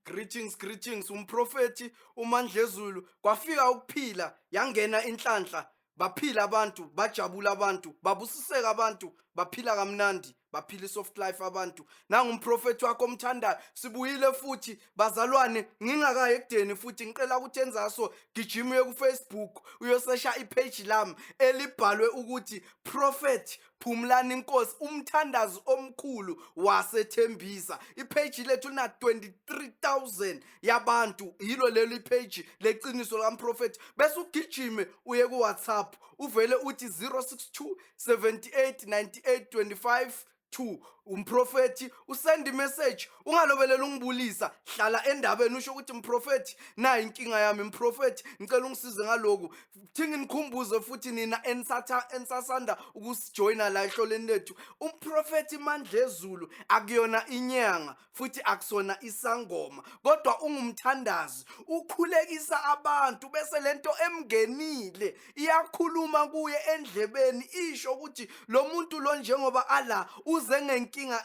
greetings greetings umprofethi umandlezulu kwafika ukuphila yangena inhlanhla baphila abantu bajabula abantu babusiseka abantu baphila kamnandi baphila isoft life abantu nangumprofethi wakho omthandayo sibuyile futhi bazalwane ngingakaye ekudeni futhi ngicela ukuthi enzaso gijima uye kufacebook uyosesha ipage lami elibhalwe ukuthi prophet Phumlani Nkosi umthandazi omkhulu wasethembisa ipage lethu lina 23000 yabantu yilo leli page leqiniso likamprofethi bese ugijime uye ku WhatsApp uvele uthi 062 78 98 25 2 umprofethi usend imessage ungalobelela ungibulisa hlala endabeni usho ukuthi mprofethi nayi inkinga yami mprofethi ngicela ungisize ngaloku thi nginikhumbuze futhi nina enisatha enisasanda ukusijoyina la ehloleni lethu umprofethi mandlezulu akuyona inyanga futhi akusona isangoma kodwa ungumthandazi ukhulekisa abantu bese lento emngenile iyakhuluma kuye endlebeni isho ukuthi lo muntu lo njengoba ala uze ngenkinga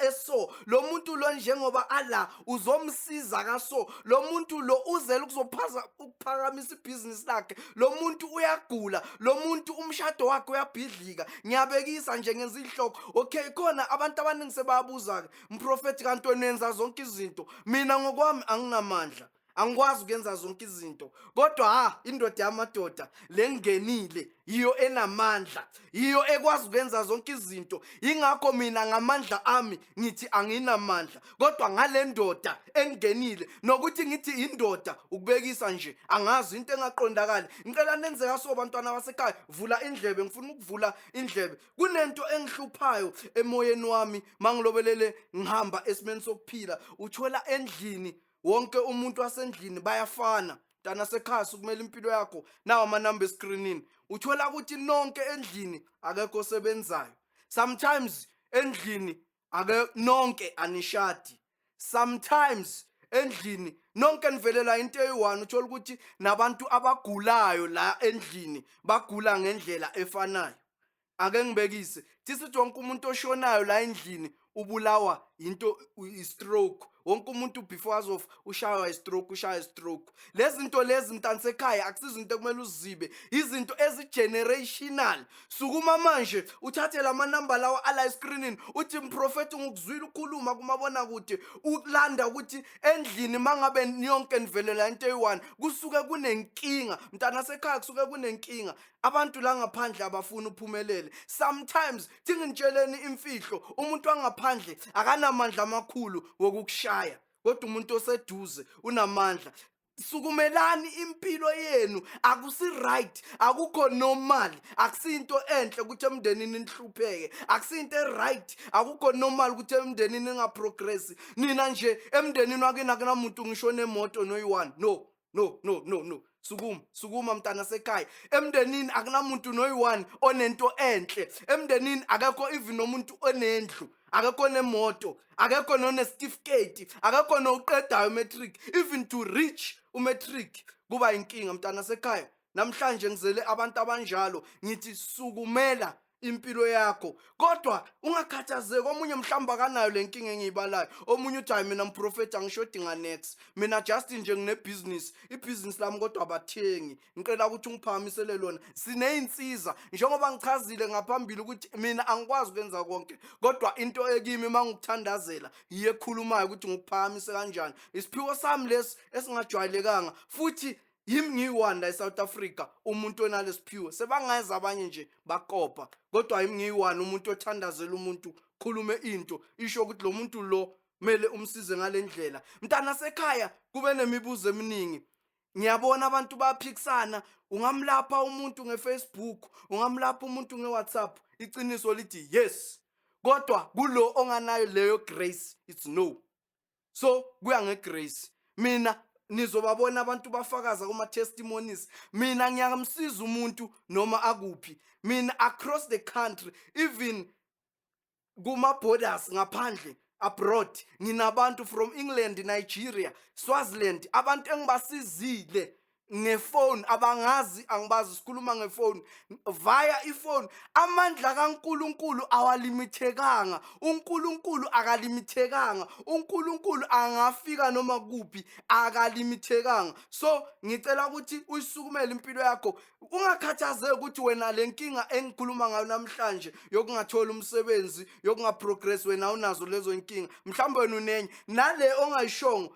eso lo muntu lo njengoba ala uzomsiza kaso lo muntu lo uzele ukuzophaza ukuphakamisa ibhizinisi lakhe lo muntu uyagula lo muntu umshado wakhe uyabhidlika ngiyabekisa nje ngenza ihloko okay khona abantu abaningi sebayabuza-ke mprofethi kanti wenenza zonke izinto mina ngokwami anginamandla angikwazi ukuyenza zonke izinto kodwa ha indoda yamadoda lengenile yiyo enamandla yiyo ekwazi ukwenza zonke izinto yingakho mina ngamandla ami ngithi anginamandla kodwa ngale ndoda engenile nokuthi ngithi indoda ukubekisa nje angazi into engaqondakali ngicela nenze kaso bantwana basekhaya vula indlebe ngifuna ukuvula indlebe kunento engihluphayo emoyeni wami mangilobelele ngihamba esimeni sokuphila uthwela endlini wonke umuntu wasendlini bayafana mntana sekhasi kumele impilo yakho nawo amanamba eskrinini uthola ukuthi nonke endlini akekho osebenzayo sometimes endlini ake nonke anishadi sometimes endlini nonke nivelela into eyi-one uthola ukuthi nabantu abagulayo la endlini bagula ngendlela efanayo ake ngibekise this is wonke umuntu oshonayo la endlini ubulawa into i-stroke wonke umuntu before azofa ushaywa i-stroke ushaya i-stroke lezi zinto lezi mntansekhaya akusizinto ekumele uzibe izinto ezi-generational sukuma manje uthathe la manamba lawa ala eskrinini uthi mprofethi ngikuzwile ukhuluma kumabona kude ukulanda ukuthi endlini uma ngabe niyonke nivelela into eyi-one kusuke kunenkinga mntanasekhaya kusuke kunenkinga abantu la ngaphandle abafuni uphumelele sometimes thingintshele imfihlo umuntu wangaphandle akanamandla amakhulu wokukushaya kodwa umuntu oseduze unamandla sukumelani impilo yenu akusi right akukho normal akusinto enhle ukuthi emndenini nihlupheke akusinto right akukho normal ukuthi emndenini ningaprogress nina nje emndenini wakini akunamuntu ngisho nemoto noyi-one no no no no no sukuma sukuma mntana sekhaya emndenini akunamuntu noyi-one onento enhle emndenini akekho even nomuntu onendlu akekho nemoto akekho nonesitifiketi akekho nowuqedayo umatric even to reach umatric kuba inkinga mntana sekhaya namhlanje ngizele abantu abanjalo ngithi sukumela impilo yakho kodwa ungakhathazeki omunye mhlawumbe akanayo le nkinga engiyibalayo omunye uthi hayi mina mprofethi angishodi nganex mina just nje nginebhizinisi ibhizinisi lami kodwa abathengi ngicela ukuthi ungiphakamisele lona siney'nsiza njengoba ngichazile ngaphambili ukuthi mina angikwazi ukwenza konke kodwa into ekimi uma ngikuthandazela yiyo ekhulumayo ukuthi ngikuphamise kanjani isiphiwo sami lesi esingajwayelekanga futhi yimi ngiyi-one la e-south africa umuntu onalesiphiwo sebangazi abanye nje bakopa kodwa yimi ngiyi-one umuntu othandazela umuntu khulume into isho ukuthi lo muntu lo kumele umsize ngale ndlela mntana sekhaya kube nemibuzo eminingi ngiyabona abantu baphikisana ungamlapha umuntu ngefacebook ungamlapha umuntu ngewhatsapp iqiniso lithi yes kodwa kulo onganayo leyo grace it's no so kuya ngegrace mina nizobabona abantu bafakaza kuma testimonies mina ngiyamsiza umuntu noma akuphi mina across the country even kuma borders ngaphandle abroad nginabantu from England Nigeria Swaziland abantu engibasizile ngefoni abangazi angibazi sikhuluma ngefoni via ifoni amandla kaNkuluNkulu awalimithekanga uNkuluNkulu akalimithekanga uNkuluNkulu angafika noma kuphi akalimithekanga so ngicela ukuthi uyisukumele impilo yakho ungakhathazeki ukuthi wena lenkinga engikhuluma ngayo namhlanje yokungathola umsebenzi yokungaprogress wena unazo lezo inkinga mhlawumbe wena unenye nale ongayishongo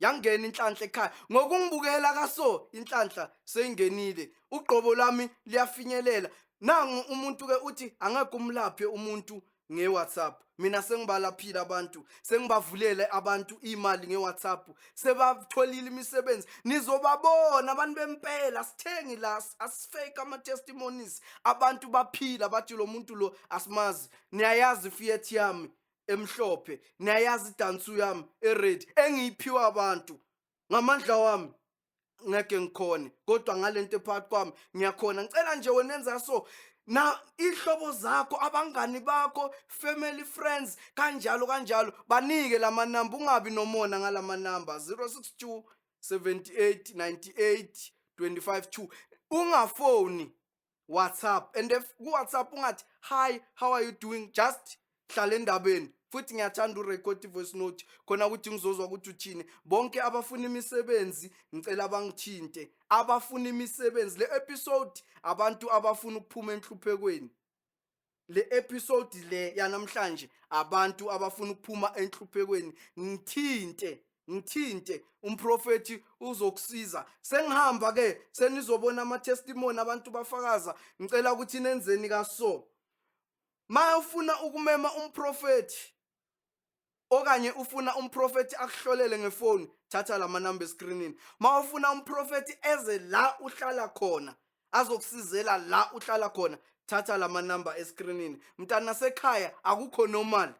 yangena inhlanhla ekhaya ngokungibukela kaso inhlanhla seyingenile ugqobo lwami liyafinyelela nangu umuntu ke uthi angeke umlaphe umuntu nge-whatsapp mina sengibalaphile abantu sengibavulele abantu imali nge-whatsapp sebatholile imisebenzi nizobabona abantu bempela sithengi la asifake ama-testimonies abantu baphila bathi lo muntu lo asimazi niyayazi ifiyeth yami emhlophe niyayazi idansu yami ered engiyiphiwa abantu ngamandla wami ngeke ngikhone kodwa ngalento ephakathi kwami ngiyakhona ngicela nje wena enza so na ihlobo zakho abangani bakho family friends kanjalo kanjalo banike lamanamba ungabi nomona ngalamanamba 062 78 98 25 2 ungafoni WhatsApp and if ku WhatsApp ungathi hi how are you doing just hlala endabeni futhi ngiyathanda urecord voice note khona ukuthi ngizozwa ukuthi uthini bonke abafuna imisebenzi ngicela bangithinte abafuna imisebenzi le episode abantu abafuna ukuphuma enhluphekweni le episode le yanamhlanje abantu abafuna ukuphuma enhluphekweni ngithinte ngithinte umprofeti uzokusiza sengihamba ke senizobona ama testimony abantu bafakaza ngicela ukuthi nenzeni kaso mayofuna ukumema umprofeti okanye ufuna umprofethi akuhlolele ngefoni thatha la manamba eskrinini ma ufuna umprofethi eze la uhlala khona azokusizela la uhlala khona thatha la manamba eskrinini mntana sekhaya akukho normal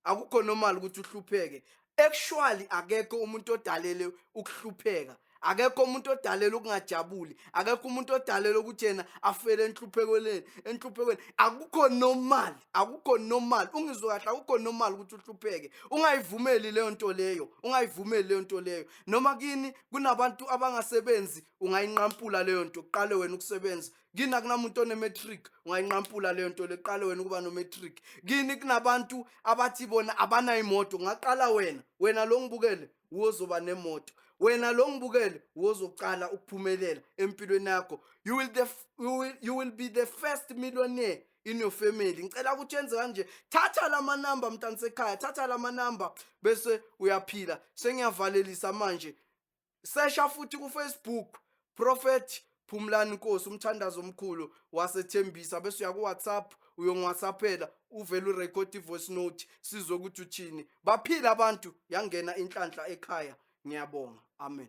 akukho normal ukuthi uhlupheke actually akekho umuntu odalele ukuhlupheka akekho umuntu odalela ukungajabuli akekho umuntu odalela ukuthi yena afele enhluphekeleni enhluphekeleni akukho normal akukho normal ungizwe kahle akukho normal ukuthi uhlupheke ungayivumeli leyo nto leyo ungayivumeli leyo nto leyo noma kini kunabantu abangasebenzi ungayinqampula leyo nto kuqale wena ukusebenza kini akunamuntu onematric ungayinqampula leyo nto leqale wena ukuba nomatric kini kunabantu abathi bona abanayimoto ungaqala wena wena lo ngibukele wozoba nemoto wena lo ngibukele wozoqala ukuphumelela empilweni yakho you will the you will, you will be the first millionaire in your family ngicela ukuthi yenze kanje thatha lama number mntana sekhaya thatha lama number bese uyaphila sengiyavalelisa manje sesha futhi ku Facebook Prophet Phumlani Nkosi umthandazo omkhulu wasethembisa bese uya kuWhatsApp uyongwhatsappela uvele urecord ivoice note sizwe ukuthi uthini baphila abantu yangena inhlanhla ekhaya ngiyabonga amen